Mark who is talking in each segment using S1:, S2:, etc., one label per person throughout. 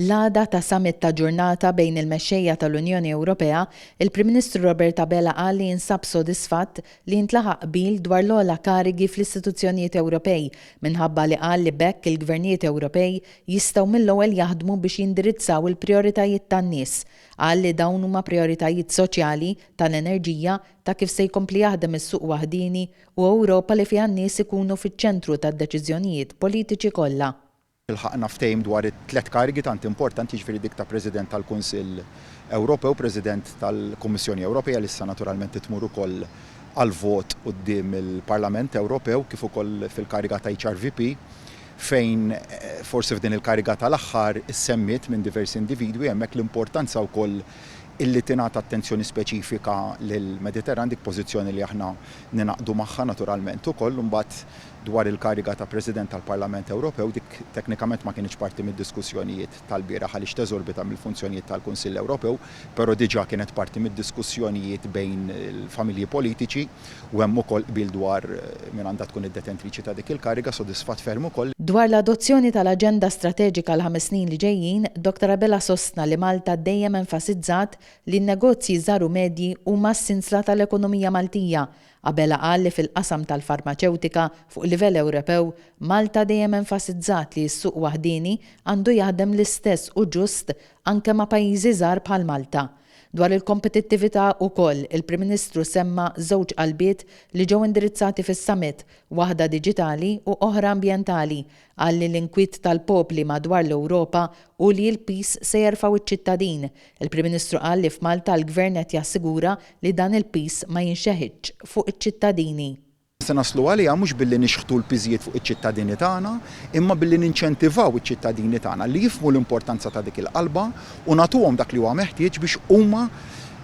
S1: L-għada ta' summit ta' ġurnata bejn il-mexxejja tal-Unjoni Ewropea, il-Prim Ministru Robert Abela qal li jinsab sodisfatt li jintlaħaq qbil dwar l-ogħla karigi fl-istituzzjonijiet Ewropej minħabba li qal li b'hekk il-gvernijiet Ewropej jistgħu mill-ewwel jaħdmu biex jindirizzaw il-prijoritajiet tan-nies. Qal li dawn huma prijoritajiet soċjali, tal-enerġija, ta' kif se jkompli jaħdem is-suq waħdieni u Ewropa li fiha n-nies ikunu fiċ-ċentru tad-deċiżjonijiet politiċi kollha. Ilħaqna ftehim
S2: dwar it-tliet karigi tant importanti, jiġifieri dik ta' President tal-Kunsill Ewropew, President tal-Kummissjoni Ewropea, li issa naturalment ittmur ukoll għall-vot quddiem il-Parlament Ewropew, kif ukoll fil-kariga ta' HRVP, fejn forsi f'din il-kariga tal-aħħar issemmiet minn diversi individwi hemmhekk l-importanza wkoll illi tingħata attenzjoni speċifika lill-Mediterran, dik pożizzjoni li aħna ningħaqdu magħha naturalment ukoll. Imbagħad Dwar il-kariga ta' President tal-Parlament Ewropew, dik teknikament ma kinitx parti mid-diskussjonijiet tal-bieraħ għaliex teżorbita mill-funzjonijiet tal-Kunsill Ewropew, però diġà kienet parti mid-diskussjonijiet bejn il-familji politiċi u hemm ukoll qbil dwar min għandha tkun id-detentriċi ta' dik il-kariga, sodisfatt ferm ukoll. Dwar l-adozzjoni
S1: tal-aġenda strateġika għall-ħames snin li ġejjin, Doctor Abela sostna li Malta dejjem enfasizzat li n-negozji żgħar u medji huma s-sinsla tal-ekonomija Maltija Abela qal li fil-qasam tal-farmaċewtika, fuq livell Ewropew, Malta dejjem enfasizzat li s-suq waħdieni għandu jaħdem l-istess u ġust anke ma' pajjiżi żgħar bħal Malta. Dwar il-kompetittività ukoll, il-Prim Ministru semma żewġ qalbiet li ġew indirizzati fis-Summit, waħda diġitali u oħra ambjentali, Qal li l-inkwiet tal-popli madwar l-Ewropa hu li l-piż se jerfgħu ċ-ċittadin. Il-Prim Ministru qal li f'Malta l-Gvern qed jassigura li dan il-piż ma jinxeħitx fuq iċ-ċittadini. Se naslu
S2: għaliha mhux billi nixħtu l-piżijiet fuq iċ-ċittadini tagħna, imma billi ninċentivaw iċ-ċittadini tagħna li jifhmu l-importanza ta' dik il-qalba u nagħtuhom dak li huwa meħtieġ biex huma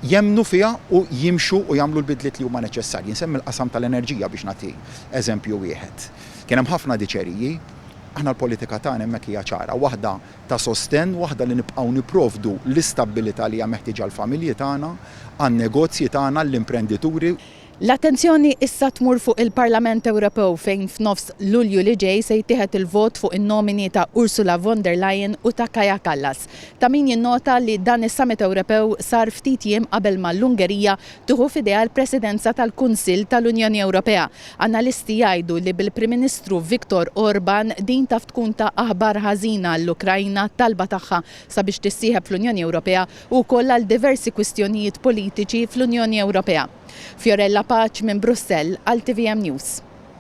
S2: jemmnu fiha u jimxu u jagħmlu l-bidliet li huma neċessarji. Nsemmi l-qasam tal-enerġija biex nagħti eżempju wieħed. Kien hemm ħafna diċeriji. Aħna l-politika tagħna hemmhekk hija ċara, waħda ta' sostenn, waħda li nibqgħu nipprovdu l-istabbilità li hija meħtieġa għall-familji tagħna, għan-negozji tagħna, għall-imprendituri. L-attenzjoni
S1: issa tmur fuq il-Parlament Ewropew fejn f'nofs Lulju li ġej se jittieħed il-vot fuq in-nomini ta' Ursula von der Leyen u ta' Kaja Kallas. Ta' min jinnota li dan is-Summit Ewropew sar ftit jiem qabel ma l-Ungerija tieħu f'idejha l-Presidenza tal-Kunsill tal-Unjoni Ewropea. Analisti jgħidu li bil-Prim Ministru Viktor Orban din taf tkun ta' aħbar ħażina għall-Ukrajna, talba tagħha sabiex tissieħeb fl-Unjoni Ewropea u wkoll għal diversi kwistjonijiet politiċi fl-Unjoni Ewropea. Fiorella Paċ minn Brussell għal tvm News.